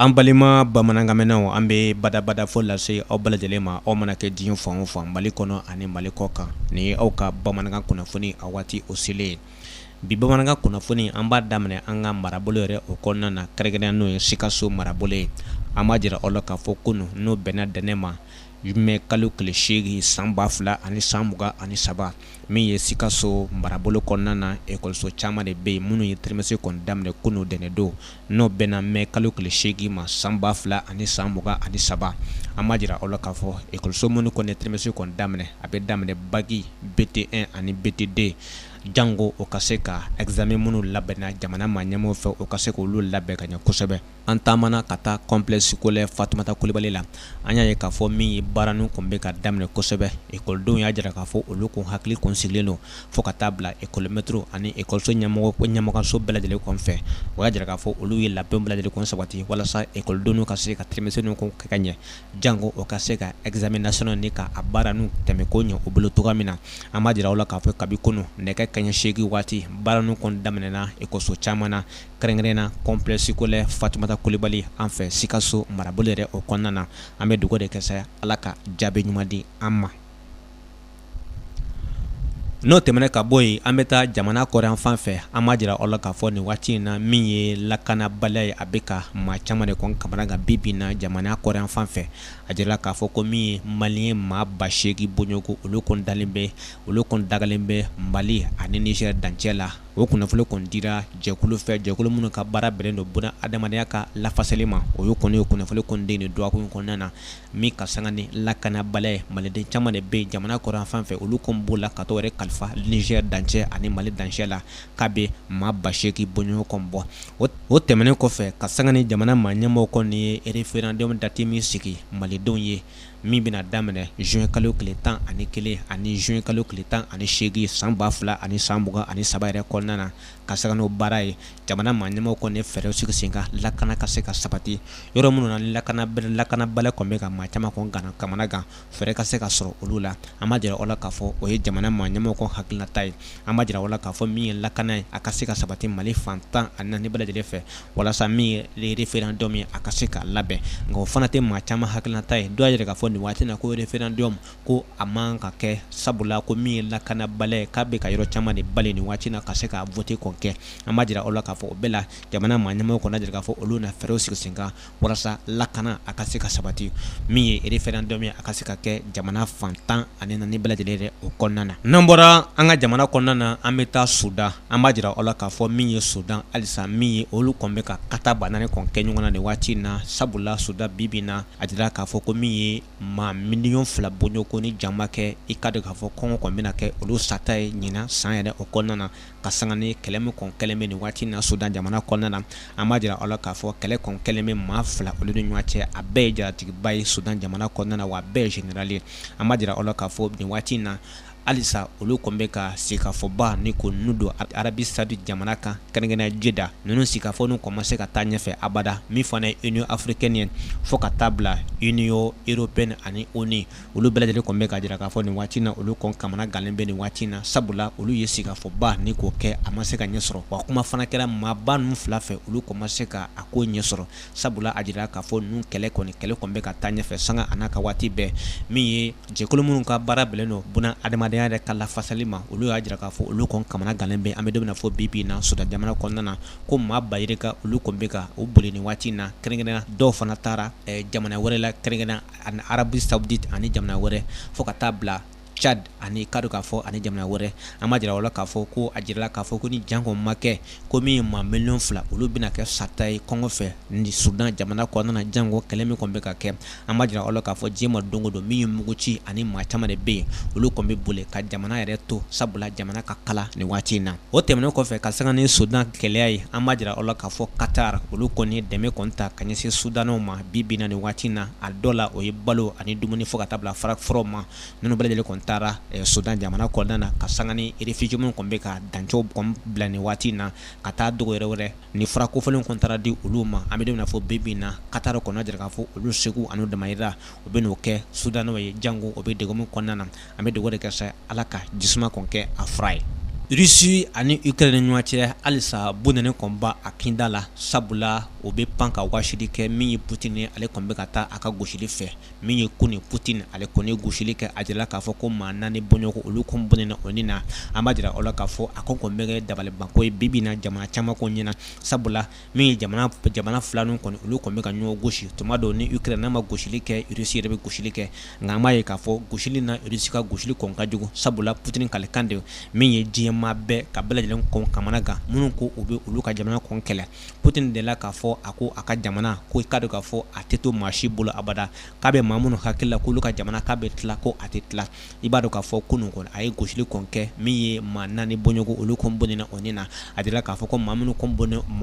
An balima bamanankanmɛnnaw an bɛ badabada fo lase aw bɛɛ lajɛlen ma aw mana kɛ diɲɛ fan o fan Mali kɔnɔ ani Mali kɔ kan nin ye aw ka bamanankan kunnafoni a waati o selen ye bi bamanankan kunnafoni an b'a daminɛ an ka marabolo yɛrɛ o kɔnɔna na kɛrɛnkɛrɛnnenya n'o ye Sikaso marabolo ye an b'a jira aw la k'a fɔ kunun n'o bɛnna dɛnɛ ma mɛ kalo tile seegin san ba fila ani san mugan ani saba min ye Sikaso marabolo kɔnɔna na ekɔliso caman de bɛ yen minnu ye trimestre kɔni daminɛ kunun dɛnɛndon n'o bɛnna mɛ kalo tile seegin ma san ba fila ani san mugan ani saba an b'a jira aw la k'a fɔ ekɔliso minnu kɔni ye trimestre kɔn daminɛ a bɛ daminɛ baki BT1 ani BT2 jango o ka se ka examen minnu labɛnna jamana maa ɲɛmaaw fɛ o ka se k' olu labɛn ka ɲɛ kosɛbɛ an taamana ka taa complexe scolaire Fatumata Kulibali la an y'a ye k'a fɔ min ye baara ninnu tun bɛ ka daminɛ kosɛbɛ ekɔlidenw y'a jira k'a fɔ olu kun hakili kun sigilen don fo ka taa bila ekɔlimɛtiri ani ekɔliso ɲɛmɔgɔso bɛɛ lajɛlen kɔfɛ o y'a jira k'a fɔ olu ye labɛnw bɛɛ lajɛlen kɔn sabati walasa ekɔlidenw ka se ka trimestre kɛ ka ɲɛ janko o ka se ka examen national ni k'a baara ninnu tɛmɛ ko ɲɛ u bolo cogo min na an b'a jira aw la k'a fɔ kabi kunun nɛgɛ kaɲɛ seegin waati baara ninnu kɔn daminɛna ekɔliso caman na kɛrɛnkɛrɛn na complexe scolaire Fatumata Kulibali an fɛ Sikaso marabolo yɛrɛ o kɔnɔna na an bɛ dugawu de kɛ sa Ala ka jaabi ɲuman di an ma n'o tɛmɛna ka bɔ yen an bɛ taa jamana kɔrɔnyanfan fɛ an b'a jira aw la k'a fɔ nin waati in na min ye lakanabaliya ye a bɛ ka maa caman de kɔn kamana gan bi bi in na jamana kɔrɔnyanfan fɛ a jirala k'a fɔ ko min ye maliyɛn maa ba seegin bɔɲɔgɔnko olu kɔn dalen bɛ olu kɔn dagalen bɛ Mali ani Nizɛri dancɛ la o kunnafoni kɔn dira jɛkulu fɛ jɛkulu minnu ka baara bɛnnen don bunadamadenya ka lafasali ma o ye kɔni ye kunnafoni kɔn di nin dɔgɔkun kɔnɔna na min ka sanga ni lakanabaliya ye maliden caman de bɛ jamana kɔrɔnyanfan fɛ olu kɔni b'o la ka taga u yɛrɛ kalifa Nizɛri dancɛ ani Mali dancɛ la k'a bɛ maa ba seegin bɔɲɔgɔn kɔn bɔ o tɛmɛnen kɔfɛ ka sanga ni jamana maa ɲɛmɔgɔ kɔni ye référendum dati min sigi malidenw ye min bɛna daminɛ zuwɛn kalo tile tan ani kelen ani zuwɛn kalo tile tan ani seegin san ba fila ani san mugan ani saba yɛrɛ kɔnɔna na ka sanga n'o baara ye jamana maa ɲɛmaaw kɔni ye fɛɛrɛw sigi sen kan lakana ka se ka sabati yɔrɔ minnu na lakanabaliya kɔn bɛ ka maa caman kɔn kana kamana gan fɛɛrɛ ka se ka sɔrɔ olu la an b'a jira aw la k'a fɔ o ye jamana maa ɲɛmaaw kɔn hakilinata ye an b'a jira aw la k'a fɔ min ye lakana ye a ka se ka sabati Mali fan tan ani naani bɛɛ lajɛlen fɛ walasa min ye référendum ye a ka se ka labɛn nka o fana tɛ maa caman hakilinata ye dɔw y'a jira k'a fɔ nin waati na ko référendum ko a man ka kɛ sabula ko min ye lakanabaliya k'a bɛ ka yɔrɔ caman de bali nin waati na ka se ka vote kɔn kɛ an b'a jira aw la k'a fɔ o bɛɛ la jamana maa ɲɛmaaw kɔni a jira k'a fɔ olu na fɛɛrɛw sigi sen kan walasa lakana a ka se ka sabati min ye referendum ye a ka se ka kɛ jamana fan tan ani naani bɛɛ lajɛlen yɛrɛ o kɔnɔna na n'an bɔra an ka jamana kɔnɔna na an bɛ taa Sudan an b'a jira aw la k'a fɔ min ye Sudan halisa min ye olu kɔni bɛ ka katabanaani kɔni kɛ ɲɔgɔn na nin waati in na sabula Sudan bi bi in na a jira k'a fɔ ko min ye maa miliyɔn fila bɔɲɔgɔn ko ni jan ma kɛ i k'a dɔn k'a fɔ kɔngɔ kɔn bɛna kɛ olu sata ye ɲina san yɛrɛ o kɔnɔna na ka sanga ni kɛlɛ min kɔn kɛlen bɛ nin waati na Sudan jamana kɔnɔna na an b'a jira aw la k'a fɔ kɛlɛ kɔn kɛlen bɛ maa fila olu ni ɲɔgɔn cɛ a bɛɛ ye jaratigiba ye Sudan jamana kɔnɔna na wa a bɛɛ ye zenerali ye an b'a jira aw la k'a fɔ nin waati in na halisa olu kɔn bɛ ka sigikafɔba ni ko ninnu don Arabie Saoudite jamana kan kɛrɛnkɛrɛnnenya Jeddah ninnu sigikafɔ ninnu kɔn ma se ka taa ɲɛfɛ abada min fana ye Union africaine ye fo ka taa bila Union européenne ani ONU olu bɛɛ lajɛlen kɔn bɛ ka jira k'a fɔ nin waati na olu kɔn kamana galen bɛ nin waati in na sabula olu ye sigikafɔba ni k'o kɛ a ma se ka ɲɛ sɔrɔ wa kuma fana kɛra maaba ninnu fila fɛ olu kɔn ma se ka a ko ɲɛ sɔrɔ sabula a jira k'a fɔ ninnu kɛlɛ kɔni kɛlɛ kɔni bɛ ka taa ɲɛfɛ sanga a n'a ka waati bɛɛ min ye jɛkulu minnu ka baara bɛnnen don buna adamadenya yɛrɛ ka lafasali ma olu y'a jira k'a fɔ olu kɔni kamana gannen bɛ an bɛ don min na fɔ bi bi in na Sudan jamana kɔnɔna na ko maa ba yirika olu kɔni bɛ ka u boli nin waati in na kɛrɛnkɛrɛnnenya dɔw fana taara jamana wɛrɛ la kɛrɛnkɛrɛnnenya ani Arabie Saoudite ani jamana wɛrɛ fo ka taa bila Cad ani k'a dɔn k'a fɔ ani jamana wɛrɛ an b'a jira aw la k'a fɔ ko a jirala k'a fɔ ko ni jan kɔn ma kɛ ko min ye maa miliyɔn fila olu bɛna kɛ sata ye kɔngɔ fɛ ni Sudan jamana kɔnɔna janko kɛlɛ min kɔn bɛ ka kɛ an b'a jira aw la k'a fɔ diɲɛ ma don o don min ye mugu ci ani maa caman de bɛ yen olu kɔn bɛ boli ka jamana yɛrɛ to sabula jamana ka kalan nin waati in na o tɛmɛnen kɔfɛ ka sanga ni Sudan gɛlɛya ye an b'a jira aw la k'a fɔ Qatar olu kɔni dɛmɛ kɔn ta ka ɲɛsin Sudaniw ma bi bi in na nin waati in na a dɔ la o ye balo ani dumuni fo ka taa bila fara fɔlɔ ma ninnu bɛɛ lajɛlen kɔn taara Sudan jamana kɔnɔna na ka sanga ni réfugiés minnu kɔn bɛ ka dancɛw kɔn bila nin waati in na ka taa dugu yɛrɛ wɛrɛ ni fura kofɔlenw kɔn taara di olu ma an bɛ don min na fɔ bi bi in na Qatar kɔni a jira k'a fɔ olu seko ani u damayira u bɛ n'o kɛ Sudanɛw ye jango u bɛ degun min kɔnɔna na an bɛ dugawu de kɛ sa Ala ka jisuma kɔn kɛ a fura ye Russie ani Ukraine ni ɲɔgɔn cɛ halisa bɔnɛni kɔn b'a kinda la sabula o bɛ pan ka wasili kɛ min ye Putin ale kɔn bɛ ka taa a ka gosili fɛ min ye kunun Putin ale kɔni gosili kɛ a jira k'a fɔ ko maa naani bɔɲɔgɔn olu kɔn bɔnɛna u ni na an b'a jira aw la k'a fɔ a ko kɔn bɛ kɛ dabalibanko ye bi bi in na jamana caman kɔn ɲɛ na sabula min ye jamana fila ninnu kɔni olu kɔni bɛ ka ɲɔgɔn gosi tuma dɔw ni Ukraine n'a ma gosili kɛ Russie yɛrɛ bɛ gosili kɛ nka an b'a ye k'a fɔ gosili na Russie ka gosili kɔn ka jugu sabula Putin kalikan de min ye diɲɛmaa bɛɛ ka bɛɛ lajɛlen kɔn kamana gan minnu ko u bɛ olu ka jamana kɔn kɛlɛ Putin dela k'a fɔ a ko a ka jamana ko i k'a dɔn k'a fɔ a tɛ to maa si bolo abada k'a bɛ maa minnu hakili la k'olu ka jamana k'a bɛ tila ko a tɛ tila i b'a dɔn k'a fɔ kunun kɔni a ye gosili kɔn kɛ min ye maa naani bɔɲɔgɔn olu kɔn bɔnɛna u ni na a jirala k'a fɔ ko maa minnu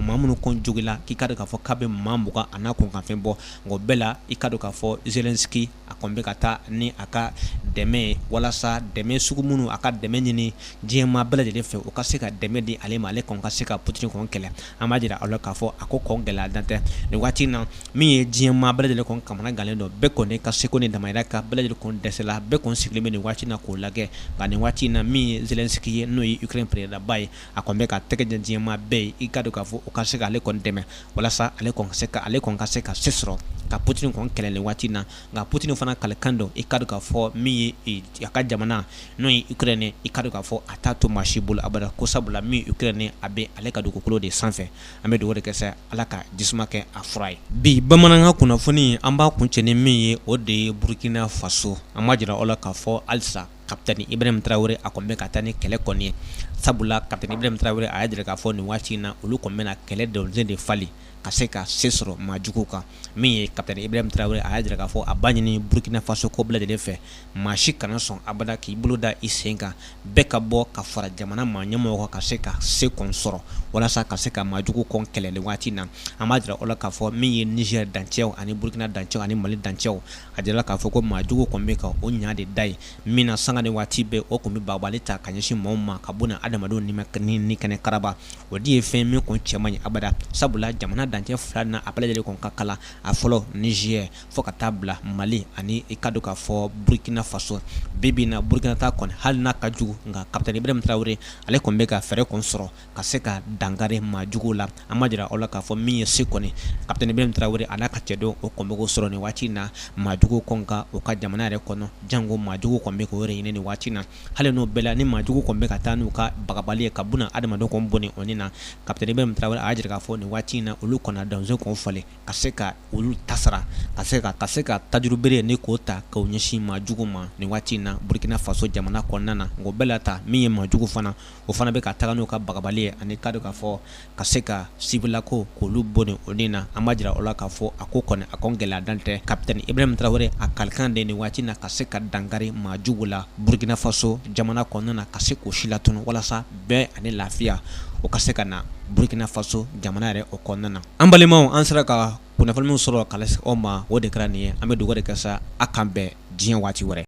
maa minnu kɔn jogila k'i k'a dɔn k'a fɔ k'a bɛ maa mugan a n'a kunkanfɛn bɔ nka o bɛɛ la i k'a dɔn k'a fɔ Zelensky a kɔn bɛ ka taa ni a ka dɛmɛ ye walasa dɛmɛ sugu minnu a ka dɛmɛ ɲini diɲɛmaa bɛɛ lajɛlen fɛ u ka se ka dɛmɛ di ale ma ale kɔn ka se ka Putin kɔn kɛlɛ an b'a jira aw la k'a fɔ a ko kɔn gɛlɛya dan tɛ nin waati in na min ye diɲɛmaa bɛɛ lajɛlen kɔn kamanagannen don bɛɛ kɔni ka seko ni damajira ka bɛɛ lajɛlen kɔn dɛsɛla bɛɛ kɔn sigilen bɛ nin waati na k'o lajɛ nka nin waati in na min ye Zelensky ye n'o ye Ukraine peresidanba ye a kɔn bɛ ka tɛgɛ dɛ diɲɛmaa bɛɛ ye i k'a dɔn k'a fɔ u ka se ka ale kɔn dɛmɛ walasa ale se ka ale kɔn ka se ka se sɔrɔ ka Putin kɔn kɛlɛ nin waati na nka Putin fana kalikan don i k'a dɔn k'a fɔ min ye a ka jamana n'o ye Ukraine i k'a dɔn k'a fɔ a t'a to maa si bolo abada ko sabula min Ukraine a bɛ ale ka dugukolo de sanfɛ an bɛ dugawu de kɛ sa Ala ka jisuma kɛ a fura ye bi bamanankan kunnafoni an b'a kuncɛ ni min ye o de ye burukina faso an b'a jira aw la k'a fɔ halisa kapitɛni Ibrahim Tarawele a kɔni bɛ ka taa ni kɛlɛ kɔni ye sabula kapitɛni Ibrahim Tarawele a y'a jira k'a fɔ nin waati in na olu kɔni bɛna kɛlɛ dɔnsen de falen ka se ka se sɔrɔ maa jugu kan min ye kapitɛni Ibrahim Tarawele a y'a jira k'a fɔ a b'a ɲini burukinafasokaw bɛɛ lajɛlen fɛ maa si kana sɔn abada k'i bolo da i sen kan bɛɛ ka bɔ ka fara jamana maa ɲɛmɔgɔ kan ka se ka se kɔn sɔrɔ walasa ka se ka maa jugu kɔn kɛlɛ nin waati in na an b'a jira aw la k'a fɔ min ye Niger dancɛw ani burukina dancɛw ani mali dancɛw a jirala k'a fɔ ko maa jugu kɔn bɛ ka o ɲa de da ye min na sanga ni waati bɛɛ u kɔn bɛ bagabali ta ka ɲɛsin maaw ma ka bon adamadenw ni kɛnɛ karaba o de ye fɛn min kɔn cɛ man ɲi abada sabula jamana dancɛ fila na a bɛɛ lajɛlen kɔn ka kalan a fɔlɔ Niger fo ka taa bila mali ani i k'a dɔn k'a fɔ burukina faso bi bi na burukinata kɔni hali n'a ka jugu nka kapitɛni Ibrahim Tarawele ale kɔn bɛ ka fɛɛrɛ kɔn sɔrɔ ka se ka dankari maa jugu la an b'a jira aw la k'a fɔ min ye se kɔni kapitɛni Ibrahim Tarawele a n'a ka cɛdenw u kɔn bɛ k'o sɔrɔ nin waati in na maa jugu kɔn kan u ka jamana yɛrɛ kɔnɔ jango maa jugu kɔn bɛ k'u yɛrɛ ɲini nin waati na hali n'o bɛɛ la ni maa jugu kɔn bɛ ka taa n'u ka bagabali ye ka bɛna adamadenw kɔn bɔnɛ u ni na kapitɛni Ibrahim Tarawele a y'a jira k'a fɔ nin waati in na olu kɔni dɔnsen kɔn falen ka se ka olu ta sara ka se ka tajurubere ni k'o ta ka ɲɛsin maa jugu ma nin waati in na burukina faso jamana kɔnɔna na nka o bɛɛ la ta min ye maa jugu fana o fana bɛ ka taga n'u ka bagabali ye ani k'a dɔn k'a fɔ ka se ka sibilakaw k'olu bɔnɛ u ni na an b'a jira aw la k'a fɔ a ko kɔni a kɔn gɛlɛya dan tɛ kapitɛni Ibrahim Tarawele a kalikan don nin waati na ka se ka dankari maa jugu la burukinafaso jamana kɔnɔna na ka se k'o silatunu walasa bɛn ani lafiya o ka se ka na burukinafaso jamana yɛrɛ o kɔnɔna na an balimaw an sera ka kunnafoni minw sɔrɔ ka lase aw ma o de kɛra nin ye an bɛ dugawu de kɛ sa a k'an bɛn diɲɛ waati wɛrɛ